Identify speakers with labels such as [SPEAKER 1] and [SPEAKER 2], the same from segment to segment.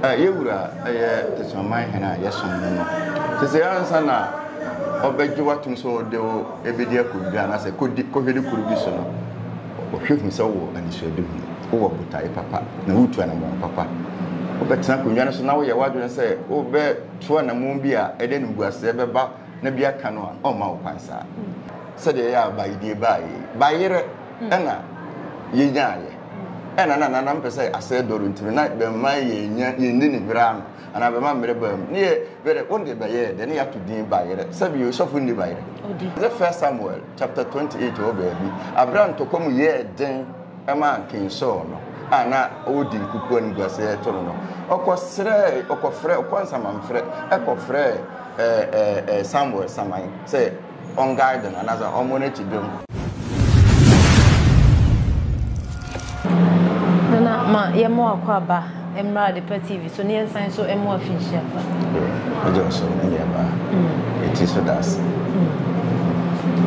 [SPEAKER 1] Yɛ Wura a yɛ Teseaman Hen a yɛsom no no, sesei ansa na ɔbɛgye wo atom sɛ ɔde wo bedi akoru bi anaasɛ kodi kɔhwede koro bi so no, ɔhwɛ hu sɛ wowɔ anisoadehu, wowɔ botae papa, na woretu anammɔn papa. Wobɛtena akonnwa no so na woyɛ w'adwene sɛ wobɛto anammɔn bi a ɛde animguaseɛ bɛba na bi aka no a, ɔremma wo kwan saa. Sɛdeɛ ɛyɛ a baedie baeɛ yi, bayerɛ na yɛnyaaeɛ. Ɛna na nana mpɛ sɛ asɛe dɔre nti no na bɛmma yɛnya yɛnni ne werɛ ano anaa bɛma mmerɛ baa mu. Ne yɛ werɛ wo deɛ bɛyɛɛ dɛ ne yɛato din Bayerɛ. Sɛbi yɛ sɔfo nni bayerɛ. Yɛ First Samuel chapter 28 wɔ baabi. Aberɛ a ntɔkwa mu yɛɛ den maa King Saul no a na ɔredi nkukuo animguaseɛ reto no no, ɔkɔ srɛɛ, ɔkɔ frɛɛ, ɔkɔ nsamanfrɛ kɔ frɛɛ ɛɛ ɛɛ Samuel saman sɛ, Wɔn guide no anaasɛ wɔn mo n'akyi dwom.
[SPEAKER 2] Nana ma yɛ mo akɔ aba mmra adepa TV so ne yɛn san so mo afinhyia fa. Ɛgye ɔso
[SPEAKER 1] ne yɛ ba. Eti so das.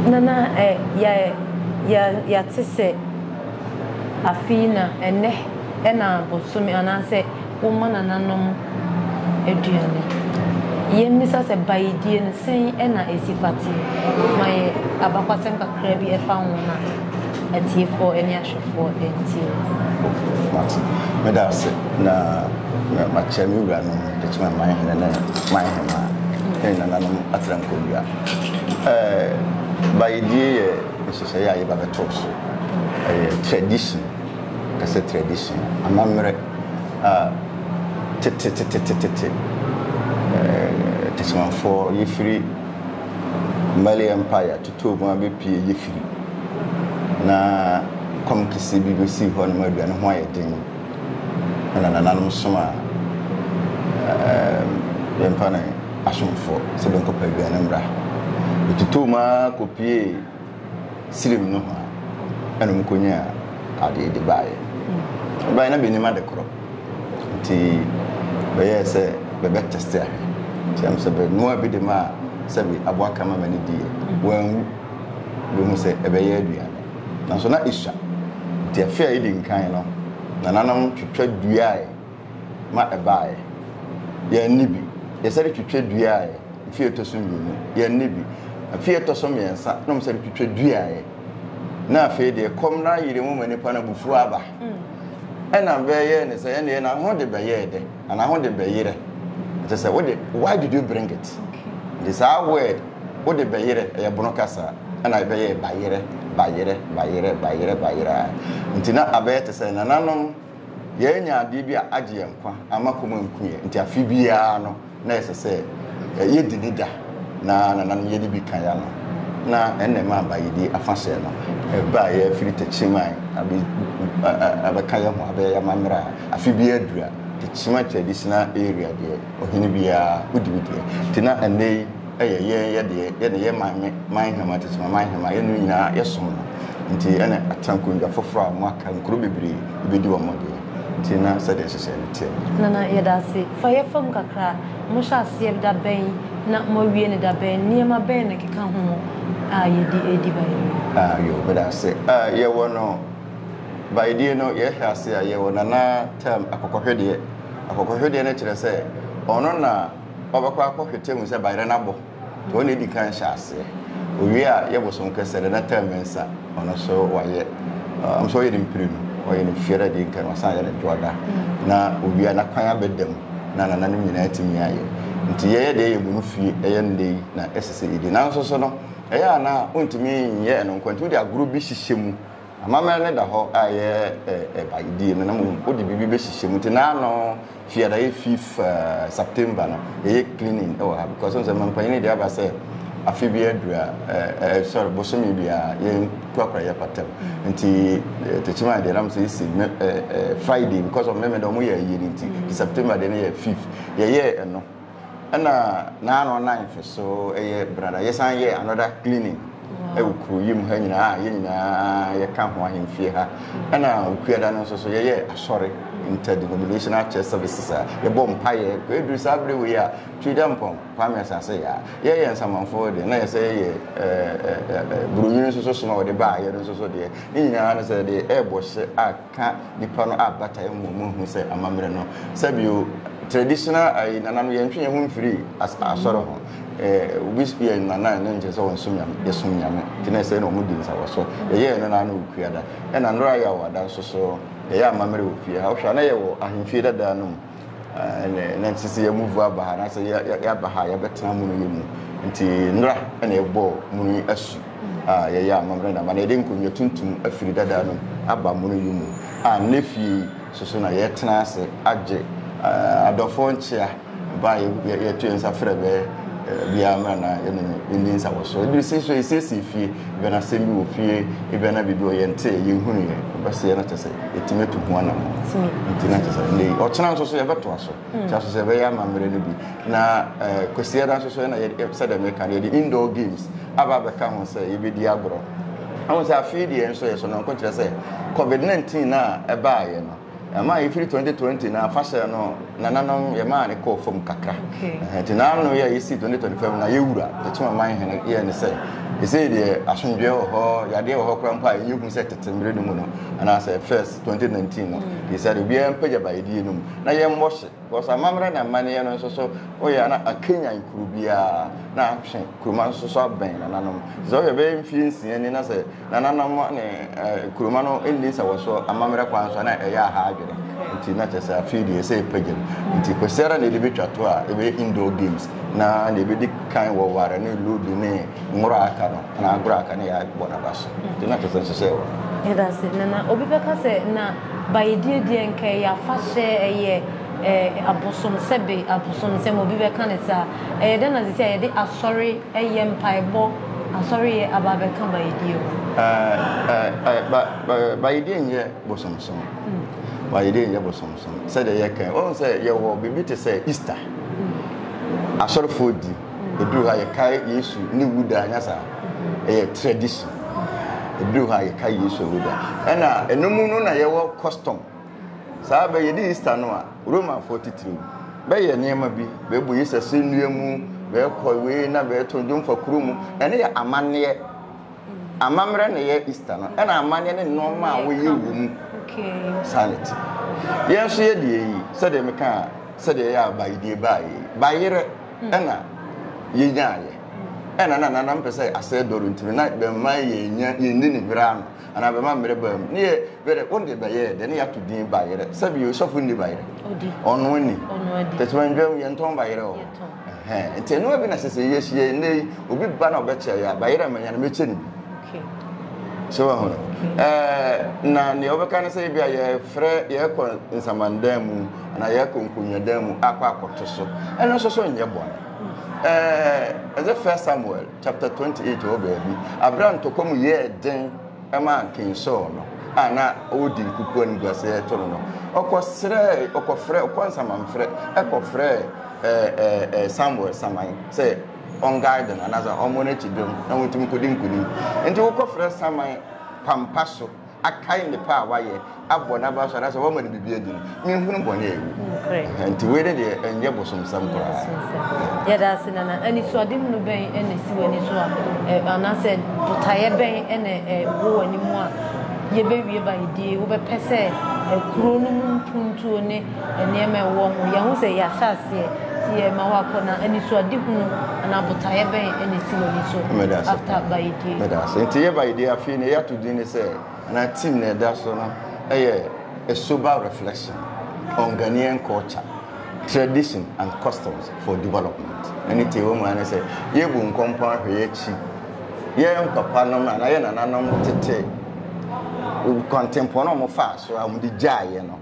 [SPEAKER 1] Nana
[SPEAKER 2] ɛ yɛ yɛ yɛate sɛ afei na ɛnɛ ɛna bosome anaasɛ. Wɔma nananom aduane. Yɛmmisa sɛ bayedie no, sɛn na ɛsi fa te? Ma yɛ abakwasɛm kakra bi ɛfa wɔn a atiefoɔ ne ahwɛfoɔ ntie wo. Mate. Meda
[SPEAKER 1] ase na makyɛ me wuranom Techiman Manhene ne Manhemaa ne nananom Atrankowia. Bayedie yɛ nhyehyɛeɛ a yɛba bɛtoo so. Ɛyɛ tradition. Kasa tradition, amammerɛ a tetetetetete Tesemanfoɔ yefiri Mali Empire totoo mu abɛpue yefiri na kɔm kɛseɛ bi bɛsii hɔ nom aduane ho ayɛ den ɛna nananom somaa yɛn mpa no asomfoɔ sɛ bɛnkɔpɛ aduane mmra bɛtotoo mu ara kɔpuee Sirim nohoa na wɔkɔnyaa adeɛ de baeɛ. Wɔbaeɛ na bɛnim ade korɔ, nti bɛyɛɛ sɛ bɛbɛtɛste ahwɛ. Nti ɛm sɛ bɛnoaa bi de maa sɛbe aboa kama ma no diiɛ. Wanwu. Bɛhu sɛ ɛbɛyɛ aduane. Nanso na ɛsua. Nti afe a ɛdi nkan no, nananom twitwa duaɛ. ma ɛbaeɛ. Yɛanni bi. Yɛsan de twitwa duaaɛ fie ɛtɔ so mmienu. Yɛanni bi. Fie ɛtɔ so mmiɛnsa na wɔsan de twitwa duaaɛ. Na afei deɛ kɔm no ayere mu ma nipa no abufuo aba. Ɛna bɛyɛɛ no sɛ ɛnneɛ na ho de bɛyɛɛ dɛ anaa ho de bɛyerɛ. Ɛkyɛ sɛ wode why did you bring it? Nti saa word wode bɛyerɛ ɛyɛ bono kasa ɛna ɛbɛyɛɛ bayerɛ bayerɛ bayerɛ bayerɛ bayerɛ a nti na abɛyɛ te sɛ nananom Yɛanya adeɛ bi a agye yɛn nkwa amma kɔm anku yɛn, nti afe biara no na ɛsɛ sɛ yɛdi ne da, na nananom yɛ de bi ka yɛn ano. Na ɛnna ɛmaa bayedie afahyɛ no baeɛ firi Techiman abɛka yɛn ho abɛyɛ yɛn amammerɛ a afe biara duru a Techiman Traditional Area deɛ ɔhene biara ɔdi ne deɛ. Nti na ɛnnɛ yi, yɛ yɛn yɛ deɛ yɛ ne yɛ man me man hema tete ma man hema yɛ no nyinaa yɛ som no nti ɛna atena nkonnwa foforɔ a wɔn aka nkuro bebree ebedi wɔn deɛ nti na sɛdeɛ nhyehyɛɛ no teɛ no. Nana yɛda ase
[SPEAKER 2] fa yɛ fam kakra mo hyɛ aseɛ da bɛn na mo awie no da bɛn nneɛma bɛn na ɛkeka ho mo a yɛdi ɛredi ba yɛwie. Ah yoo meda ase
[SPEAKER 1] ah yɛ wɔ no ba yɛdie no yɛ hyɛ ase a yɛ wɔ nana term akɔkɔhwedeɛ akɔkɔhwedeɛ no kyerɛ sɛ ɔno na. Ɔbɛkɔ akɔhwetɛ hu sɛ bayerɛ no abɔ nti ɔno na edi kan hyɛ aseɛ. Owie a yɛ bosom kɛsɛ dɛ na term mensa ɔno so wayɛ am sɛ ɔyɛ no mprenu ɔyɛ no fiada adi nka no wasan ayɛ no dwoada na owie a na kwan abɛda mu na nananom nyinaa atumi ayɛ nti yɛyɛ deɛ yɛbu no fie ɛyɛ nnɛ yi na ɛsɛ sɛ yɛdi nanso so no ɛyɛ a na ontumi nyɛ ɛno nko nti wode agorɔ bi hyehyɛ mu Amammerɛ no da hɔ a ɛyɛ ɛba die no na mmom wode biribi bɛhyehyɛ mu nti naa no fiada yɛ fifth uh, September no ɛyɛ cleaning ɛwɔ ha because nsɛ mampanyini de aba sɛ afe bi aduru a uh, uh, sorry bosome bi a yɛn kurakura yɛ patam nti uh, tekyima deɛ nam sɛ ɛsi uh, uh, Friday because of mmɛmɛ dɛ ɔmo yɛ ayie no nti mm. September deɛ no yɛ fifth yɛyɛ ɛno Ɛna na ano ninth so ɛyɛ brada yɛsan yɛ another cleaning ɛwɔ kuro yi mu ha nyinaa a yɛn nyinaa yɛka ho ahemfie ha ɛna okuada no nso so yɛyɛ asɔre interdenominational church services a yɛbɔ mpaeɛ ɛduru saa bere wei a twida mpɔn kwame asase yɛ a yɛyɛ nsamanfoɔ deɛ na yɛsɛ yɛyɛ buroni nso so soma wɔde baa yɛ no nso so deɛ ne nyinaa no sɛ deɛ ɛrebɔ hyɛ a ka nipa no a bata ɛmu ɔmo nhu sɛ amammerɛ no sɛbio traditional ayi nana no yɛntwe yɛn ho mfiri as asɔre ho ɛɛ obi spi yɛn nana ɛno nkyerɛ sɛ wɔn som nyame yɛsom nyame nti na ɛsɛ na ɔmo di nsawa so yɛyɛ ɛno na ano okua da ɛna nnora yɛ awɔ ada nso so yɛyɛ amammerɛ wɔ fie ha ɔhwɛ ana yɛ wɔ ahemfie dadaa no mu ɛnɛ nti sɛ yɛmuvu aba ha anaasɛ yɛaba ha a yɛbɛtena mu no yɛ mu nti nnora ɛna ɛbɔɔ mu no asu a yɛyɛ amammerɛ na ma na yɛde nkonnwa tuntum afiri dada no aba mu no yɛ mu a nnɛ fie soso na yɛtena ase agye adɔfoɔ nkyea ba yɛto yɛ nsa frɛ bɛ biara mmra na yɛne yɛndi nsa wɔ so ɛbiri si so yɛsiesie fie Ebia na asɛm bi wɔ fie, ebia na biribi wɔ yɛn nte, yɛn hunu yɛ, ɔbɛsɛ yɛn na kyɛ sɛ yɛtumi atu ho anam. Nti na kyɛ sɛ ne ɔkyena nso so yɛbɛto aso. Nti aso sɛ ɛbɛyɛ ama mmerɛ no bi. Na eh, kwasi ɛda nso so ɛna yɛ sɛ dɛm ɛka yɛde indoor games aba abɛka ho sɛ yɛbɛdi agorɔ. Ɛho sɛ afei deɛ nso yɛ so no nko kyerɛ sɛ COVID-19 na ɛbaayɛ no. Ɛmaa yɛfiri 2020 no afahyɛ no nananom yɛmaa no kɔɔ fam kakra. Nti n'ano yɛ a yɛsii 2025 mu na yɛwura yɛkyem ɔman hene yɛ ne sɛ ɛsei deɛ asomdwoeɛ wɔ hɔ yadeɛ wɔ hɔ koraa mpo a ɛnyɛ hu sɛ tete mmerɛ no mu no anaasɛ first 2019 no yɛsɛ de obiara mpagya bayɛdie no mu na yɛmmɔ hye Because amammerɛ ne amanneɛ no nso so woyɛ a na akanyan kuro biara na atwe kuroma nso so abɛn nananom. Sɛ woyɛ bɛyɛ mfie nsia ni na sɛ nananom ne kuroma no nni sɛ wɔ so amammerɛ kwan so a na ɛyɛ aha adwene. Nti na kyɛ sɛ afei deɛ ɛsɛ ɛpagya mu. Nti kwasiara na yɛde bɛtwa to a ɛbɛyɛ indoor games na deɛ ɛbɛdi kan wɔ ware ne ludo ne Ngoro a aka no, anaa agoro a aka no yɛ a bɔ n'aba so, nti na kyerɛ sɛ nhyehyɛe wɔ hɔ. Yɛda ase, Nana.
[SPEAKER 2] Obi bɛka sɛ, Na Bayedie deɛ anka ɛyɛ afahyɛ, ɛyɛ eh, abosom sɛbe, abosonsɛm, obi bɛka no saa. Ɛyɛ dɛn na seesei a yɛde asɔre yɛ mpaebɔ, asɔre yɛ aba abɛka Bayedie ho? Eh, eh, eh,
[SPEAKER 1] ba, ba, Bayedie nyɛ bosomsom. Bayedie nyɛ bosomsom. Sɛdeɛ yɛka yi, wohu sɛ yɛwɔ biribi te sɛ Easter, asɔrefoɔ di. Ɛduru ha yɛkae Yesu ne wuda anya saa. Ɛyɛ tradition. Ɛduru ha yɛkae Yesu ne wuda. Ɛna ɛno mu no na yɛwɔ custom. Saa bɛyɛ de Easter no a Romafoɔ titiriw bɛyɛ nneɛma bi bɛbɔ Yesu asɛnnua mu bɛkɔ wei na bɛto dwom fa kuro mu. Ɛno yɛ amanneɛ. Amammerɛ na ɛyɛ Easter no. Ɛna amanneɛ ne nneɛma a wɔyɛ wɔ mu. Saa na ɛte. Yɛn nso yɛ deɛ yi sɛdeɛ meka sɛdeɛ ɛyɛ a bae deɛ bae bayerɛ. na yenyaeɛ. Ɛna na nana mpɛ sɛ asɛe dɔ no ntumi na bɛmma yɛnya yɛnni ne werɛ ano anaa bɛma mmerɛ baa mu. Ne yɛ werɛ wo deɛ bɛyɛɛ dɛ ne yɛato din bayerɛ. Sɛbi osɔfo nni bayerɛ? Odi. Ɔno ani. Ɔno adi. Tɛtɛmɛndwa mu yɛntɔn bayerɛ wɔ hɔ. Nti ɛnoa bi na sɛ sɛ yɛhyia yi nnɛ yi obi ba na ɔbɛkyɛ yɛ a bayerɛ manya no mɛkyɛ ne bi. So wahu no? Na deɛ ɔbɛka ne sɛ ebi a yɛfrɛ yɛkɔ nsamandan mu. anaa yɛkɔ nkonnwadan mu akɔ akɔto so ɛno nso so nyɛ bɔne ɛɛ ɛdze first samuel chapter twenty eight wɔ baabi abira ntɔkwa mu yɛɛ den ɛma nkin sɔɔ no a na ɔwɔ di nkukuo no guase ɛto no no ɔkɔ srɛ ɔkɔ frɛ ɔkɔ nsamanfrɛ ɛkɔ frɛ ɛɛ ɛɛ samuel saman sɛ ɔngae dɛm anaasɛ ɔmo n'akyi dɛm na wɔntumi kɔdi nkunim nti wokɔ frɛ saman pampa so. akae nnepa a wayɛ, abɔ no abra so anaasɛ wama no biribi adi no, menhunu bɔne a ɛwɔ mu. Nti wei ne deɛ ɛnyɛ bosomsɛm koraa. Yɛda ase
[SPEAKER 2] nana. Anisoadehunu bɛn na esi w'ani so a anaasɛ botaeɛ bɛn na ɛwɔ w'ani mu a yɛbɛwie bayedie wobɛpɛ sɛ kuro no mu mpuntuo ne nneɛma a ɛwɔ ho. Yɛahu sɛ ɛyɛ ahyɛaseɛ, nti yɛrema wakɔ, na anisoadehunu anaa botaeɛ bɛn na ɛsi w'ani so after Bayedie? Meda ase. Nti yɛ Bayedie
[SPEAKER 1] afei na yɛato din no sɛ, anaa theme na ɛda so no yɛ A Sober Reflection on Ghanaian Culture, Tradition and Customs for Development. Ɛne deɛ ɛwɔ mu ara ne sɛ, yɛrebu nkɔmpɔn ahwɛ yɛn akyi, yɛn papanom anaa yɛn nananom tete kwantempɔn a wɔfaa so a wɔde gyaeɛ no.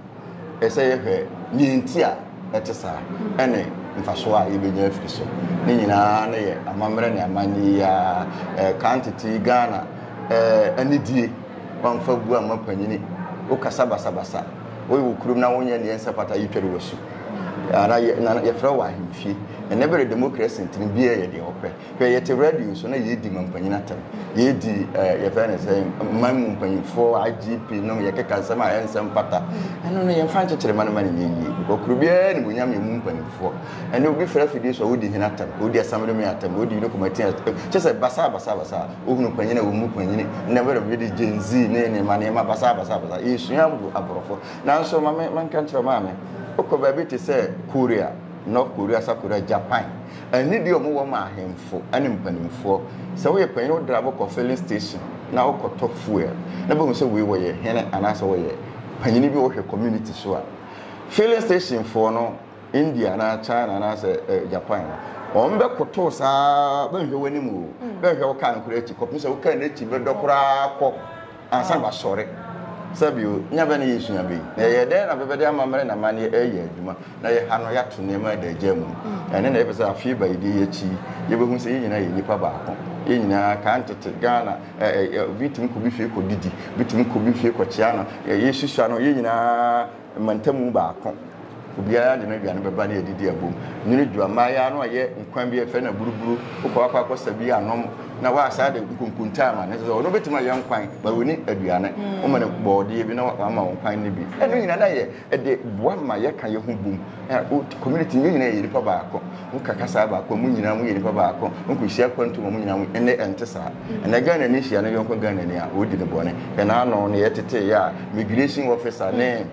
[SPEAKER 1] Ɛsɛ sɛ yɛhwɛ nea enti a ɛte saa ne mfaso a yebenya afi so. Ne nyinaa no yɛ amammerɛ ne amanne yi ara. Eh, kan tete yi Ghana eh, anidie, wamfa gu amma panyini. Wokasa basabasa, woyɛ wo kurom na wonyɛ nea ɛnsɛ pata yetware w'asu. Ana yɛ, na yɛfrɛ wɔ ahemfie. Ɛnɛ bere demokrasi ntini biara yɛ deɛ wɔpɛ. Hwɛ, yɛte radio so na yɛredi mampanyin atɛm. Yɛredi eh, yɛfrɛ no sɛ man mu mpanyinfoɔ, IGP nom, yɛkeka nsɛm a ɛnsɛ mfata. Ɛno no yɛmfa nkyekyere ma no ma no nyɛ yie. Because kuro biara ne bonyam yɛ mu mpanimfoɔ. Ɛnɛ obi frɛ afidie so a wodi hene atɛm, wodi asamdome atɛm, wodi yino kɔmati atɛm. Kyɛ sɛ basaa basaa basaa. Wohunu panyin a wɔn mu panyin. Nnɛ wɛrɛ bi de Gen Z ne nneɛma nneɛma basaa basaa basaa. Yɛsua abu aborɔfo. Nanso ma me menka nkyerɛ maame. Wokɔ baabi te sɛ Korea. North Korea, South Korea, Japan, anidie a wɔwɔ ma ahemfo ne mpanimfoɔ. Sɛ woyɛ panyin wo drive kɔ filling station na wokɔtɔ fuel na bɛhu sɛ wei wɔyɛ hene anaasɛ wɔyɛ panyin bi wɔhwɛ community so a. Filling station foɔ no India anaa China anaasɛ eh, Japan no wɔn bɛkoto saa bɛnhwɛ w'anim o hmm. bɛnhwɛ wo kaa no koraa akyi kɔpem sɛ wo kaa no akyi bɛdɔ koraa kɔ Ansa na wasɔre. Sɛbio, nya bɛn na yesua bi? Na yɛyɛ dɛn na bɛbɛde amammerɛ na amanneɛ reyɛ adwuma, na yɛha no yɛato nneɛma adaagyaa mu no? Ɛno na yɛpɛ sɛ afe baedie yi akyi yi, yebehu sɛ yɛn nyinaa yɛ nnipa baako. Yɛn nyinaa, kan tete Ghana, ɛ, ɛ, ɛ, obi tumi kɔ obi fie kɔdidi, obi tumi kɔ obi fie kɔkyea no, ɛ, yesusuano, yɛn nyinaa, Mmantamu baako, obiara de n'aduane bɛba ne adidi abom. Nwene dua, mmaayaa no ayɛ nkwan bi a yɛfrɛ no aburuburu, wokɔ akɔ akɔsa bi anom na woasan de nkonkontaa ma no. Ɛsɛ sɛ ɔno bɛtumi ayɛ nkwan, but ɔni aduane. Woma no bɔɔdeɛ bi na wama wo nkwan no bi. Ɛno nyinaa na yɛ de boa ma yɛka yɛn ho bom. Community, yɛn nyinaa yɛ nipa baako. Woka kasaa baako a, mo nyinaa moyɛ nnipa baako. Wonkɔhyia kwantom a, mo nyinaa mo. Ɛnnɛ ɛnte saa. Ɛnnɛ Ghanani hyia ne yɔnko Ghanani a, ɔredi no bɔne. Hwɛ n'ano no, yɛteteeɛ a, migirehyin wɔfisa ne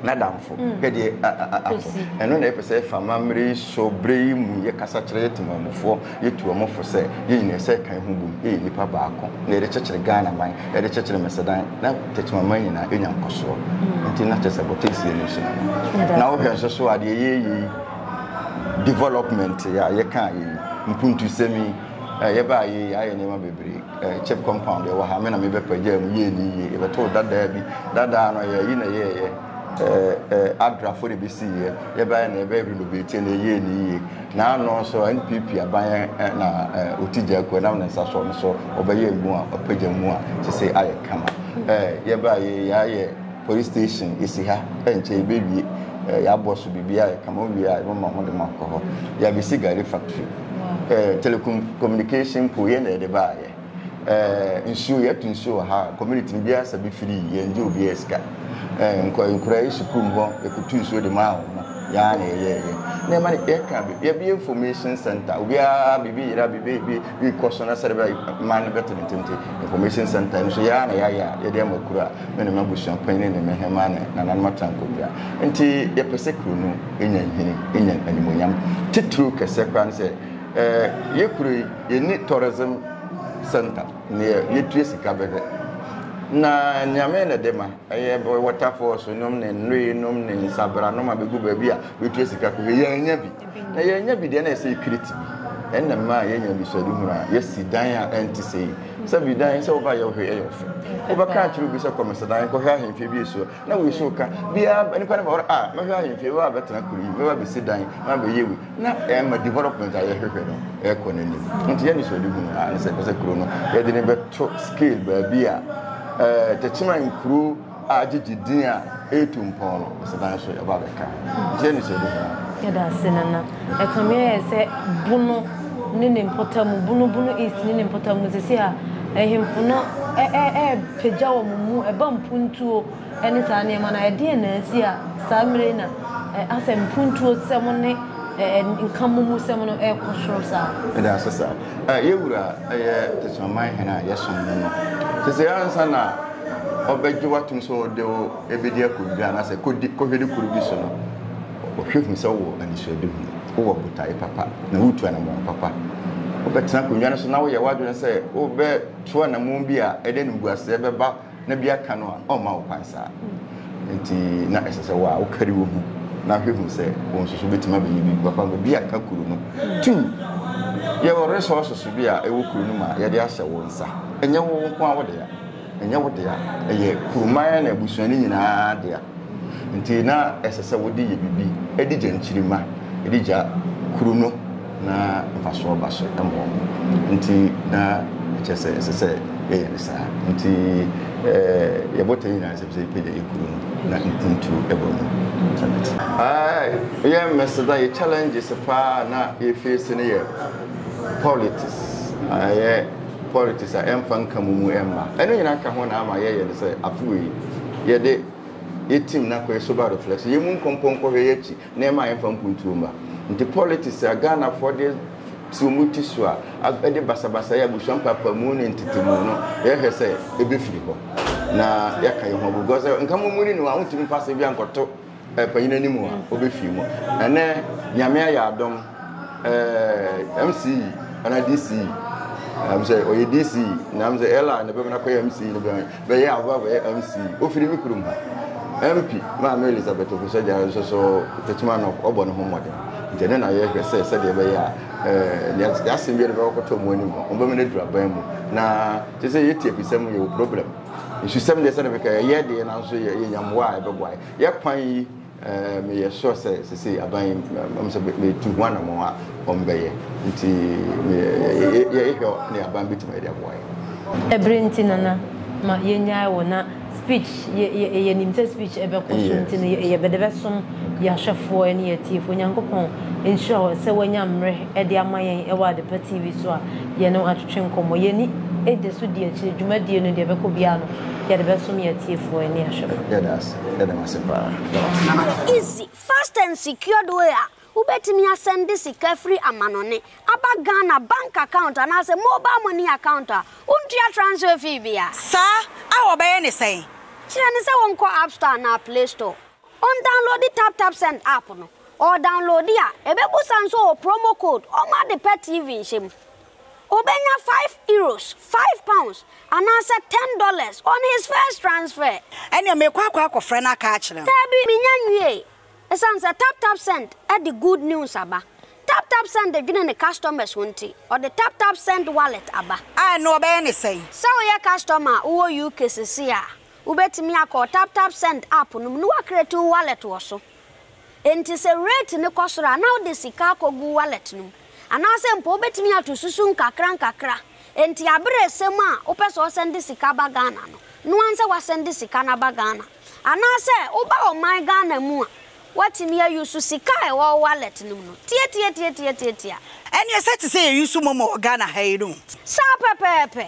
[SPEAKER 1] n'adamfo. Hwɛ deɛ ato. Ɛno na yɛpɛ sɛ yɛfa amammerɛ yi so berɛ yi mu. Yɛkasa kyerɛ yɛn temanmufoɔ, yɛtu wɔn fo sɛ, yɛn nyinaa ɛsɛ sɛ yɛka yɛn ho bom, yɛyɛ nnipa baako, na yɛde kyekyere Ghanaman, yɛde kyekyere Mesedan, na Techimanman nyinaa nya nkɔsoɔ. Nti na kyerɛ sɛ Botansiani nso no no. Na wohwɛ nso so a, deɛ yɛreyɛ yi, development yi a yɛka yi mpuntusɛm yi eh, yɛbaa yɛ yi ayɛ nneɛma bebree eh, chip compound yɛwɔ ha me na mebɛpagyaa mu yɛɛ ne yie yɛbɛtoo dadaa bi dadaa no yɛyi na yɛɛyɛ eh, adrafo de bɛsiiɛ yɛbɛyɛ na yɛbɛyɛ renovate na yɛyɛ ne yie na ano nso npp aban na ɔti gya akuo nam ne nsa soɔ no so ɔbɛyɛ mu a ɔpagya mu a sɛ sɛ ayɛ kama yɛbaa yɛ yɛayɛ Police station esi ha ɛnkyɛ yɛbɛwie eh, yɛabɔ so biribiara yɛka ma wowie a yɛbɛma ho de mo akɔ hɔ yɛabɛsi gari factory eh, telecommunication po yɛn na yɛde baayɛ eh, nsuo yɛto nsuo wɔ ha community no biara sa bi firi yɛn gye obiara sika eh, nkora yi sukuu mu hɔ yɛkutu nsuo de maa wɔn yɛa na yɛyɛɛyɛ na ɛma no yɛka yɛbɛyɛ information center obiara biribi yera biribi bi rekɔ so na sɛde bɛ ma no bɛtenetente information center no so yɛa na yɛayɛ a yɛde ama kuro a Me ne m'abusua panyin ne me hemmaa ne nananom atra nkonnwa. Enti yɛpɛ sɛ kuro no nya nhini, nya animuonyam. Titiriw kɛseɛ koraa ne sɛ, yɛ kuro yi, yɛnni tourism center, neɛ yɛtua sika bɛhwɛ. Na Nyame na ɛde ma, ɛyɛ waterfalls nom ne nnue nom ne nsabranom a bɛgu baabi a bɛtua sika kɔhwɛ. Yɛannya bi. Na yɛanya bi deɛ na ɛsɛ kiriti bi. Ɛnna mmaa yɛanya anisoadehunu a yɛasi dan a ɛnte sei. Sɛ bi dan sɛ woba yɛ hwee ɛyɛ ɔfɛ. Wobɛka akyerɛ obi sɛ kɔmesedan kɔhwɛ ahemfie bi ɛsuo na wei so ka biara nipa no ba hɔ a mɛhwɛ ahemfie wei abɛtena kuro yi mɛba bɛsi dan na bɛyɛ wei na ɛma development a yɛhwehwɛ no ɛkɔ n'anim. Nti yɛ anisoadehunu a ne sɛ ɛpɛ sɛ kuro no yɛde ne bɛto scale baabi a ɛɛ tɛkyima nkuro a gyegye din a ɛretu mpɔn no asedan nso ɛba bɛka ho. Nti ɛne sɛ ɛde hia. Yɛda ase Nana.
[SPEAKER 2] Ɛkame ayɛ sɛ Bono ne ne mpɔtamu, Bono, Bono East ne ne mpɔtamu sɛsi a ahemfo no ɛɛpagya wɔn mu, ɛba mpuntuo ɛne saa nneɛma no a, ɛdeɛn na asi a saa mmerɛ yi na asɛm mpuntuo sɛm ne nkamomu sɛm no ɛrekɔ soro saa? Yɛda ase saa.
[SPEAKER 1] Yɛwura ɛyɛ Tesoaman hene a yɛsom no no. Sɛsɛ ansa na ɔbɛgye wo atom sɛ ɔde wo bɛdi akɔdwiri anaasɛ kɔdi kɔhwɛde kuro bi so no, ɔhwɛ hu sɛ wowɔ anisoade hu, wowɔ botae papa, na wotu anammɔn papa. Wobɛtena akonnwa no so na woyɛ w'adwene sɛ wobɛto anammɔn bi a ɛde animguaseɛ bɛba na bi aka no a, ɔmma wo kwan saa. Nti na ɛsɛ sɛ wo a wokari wo ho na hwɛ hu sɛ wo nso so wobɛtumi abɛyɛ biribi papa ma bi aka kuro no. Tu yɛwɔ resources bi a ɛwɔ kuro no mu a yɛde ahyɛ wo nsa, ɛnyɛ wo nko a wode a. Ɛnyɛ wo dea, ɛyɛ kuroman na abusua no nyinaa dea. Enti na ɛsɛ sɛ wode yɛ biribi de gya nkyirimma de gya kuro no na mfasoɔ ba so ma wɔn. Enti na ɛkyerɛ sɛ ɛsɛ sɛ yɛyɛ no saa. Enti yɛ botae nyinaa ɛsɛ sɛ yɛpɛ gya yɛ kuro no na mpuntuo ɛba mu. Yɛ mmɛseda yɛ challenges paa na yɛ face no yɛ politics. politics a ɛmfa nka mu mu ɛmma. Ɛno nyinaa ka ho na ama yɛyɛ no sɛ afewei yɛde yɛ team na kɔyɛ sober reflection. Yɛmu nkɔmpɔ nkɔhwɛ yɛ akyi na ɛma yɛmfa mpuntuo mma. Nti politics a Ghanafoɔ de si wɔn ti so a ɛde basabasayɛ, abusua mpaapaamuu ne ntetemu no yɛhwɛ sɛ ɛbɛfiri hɔ na yɛaka yɛn ho agu gua sɛ nka mommuni ne ho a wontumi mfa asɛm biara nkɔto Panyin anim a ɔbɛfii mu. Ɛnɛ Nyame ayɛ adom ɛɛ MC ana DC ɛm sɛ ɔyɛ DC na ɛm sɛ ɛla na bɛbɛ nakɔyɛ MC na bɛyɛ bɛyɛ ahoa bɛyɛ MC ofiri mi kurom ha MP maame Elizabeth Ofisɛ gya nso so tɛtuma no ɔbɔ ne ho mmɔden nti ɛnɛ na yɛhwɛ sɛ sɛdeɛ bɛyɛ a ɛɛ yasɛm bi ɛde bɛkɔtɔ mu anim mu bɛmɛ no aduraban mu na te sɛ yɛtie pisɛm yɛwɔ problem. Nsusɛm deɛ sɛdeɛ bɛka ɛyɛ deɛ nanso yɛ yɛ nyamboa a ɛbɛboa yɛ. Yɛ kwan yi ɛɛ meyɛ sure sɛ sese aban yi mɛm sɛ metu ho anamɔn a wɔn bɛyɛ nti yɛ yɛ yɛ hwɛ ne aban bɛtumi ayɛ de aboa yɛ. Ɛbere nti
[SPEAKER 2] Nana ma yɛ nyae wo na speech yɛ yɛ yɛ nim sɛ speech ɛbɛkɔ so nti no yɛ yɛ bɛde bɛsom yɛ ahwɛfoɔ ɛne yɛ atiefoɔ Nyankopɔn nhyira wo sɛ wanya mmerɛ ɛde ama yɛn ɛwɔ Adepa TV so a yɛne atwetwe nkɔmmɔ. Yɛn ani gye so di akyire dwumadie no deɛ ɛbɛkɔ biara no yɛde bɛsom yɛn atiefoɔ ne ahwɛfoɔ. Yɛda ase. Yɛda mo ase
[SPEAKER 1] paa.
[SPEAKER 3] Easy, fast and secured way a wobɛtumi asɛnde sika firi amanɔne aba Ghana bank account anaasɛ mobile money account a wontua transfer fee biara. Saa a
[SPEAKER 4] wɔbɛyɛ ne sɛn? Kyerɛ no sɛ ɔnkɔ
[SPEAKER 3] App Store anaa Play Store. Ɔndownloadi TapTapSend app no, ɔdownloadi a, ɛbɛbusa nso wɔ promo code ɔma de pɛ TV nhyɛ mu. Ɔbɛnya five Euros, five pounds, anaasɛ ten dollars on his first transfer. Ɛneɛ mekɔ akɔ
[SPEAKER 4] akɔfrɛ no aka akyerɛ no. Daabi, menya nwiee.
[SPEAKER 3] Ɛsiane sɛ TapTapSend de good news aba. TapTapSend dwene ne customers ho nti, ɔde TapTapSend Wallet aba. A ɛno ɔbɛyɛ ne
[SPEAKER 4] sɛn? Sɛ woyɛ customer
[SPEAKER 3] a wowɔ UK sesei a, Wobɛtumi akɔ wo TapTapSend app no mu na woacreate wo wallet wɔ so. Enti sɛ rate no kɔ soro a, na wode sika akɔgu wo wallet no mu. Anaasɛ mpo wobɛtumi ato susu nkakrankakra. Enti aberɛ ɛsɛ mu a wopɛ sɛ wosɛnde sika ba Ghana no, no ara sɛ woasɛnde sika no aba Ghana. Anaasɛ woba ɔman Ghana mu a, woatumi a use sika a ɛwɔ wo wallet no mu no. Tiatiatiatiatiatia. Ɛneɛ sɛ
[SPEAKER 4] te sɛ yɛ use momo wɔ Ghana ha yi no. Saa pɛpɛɛpɛ.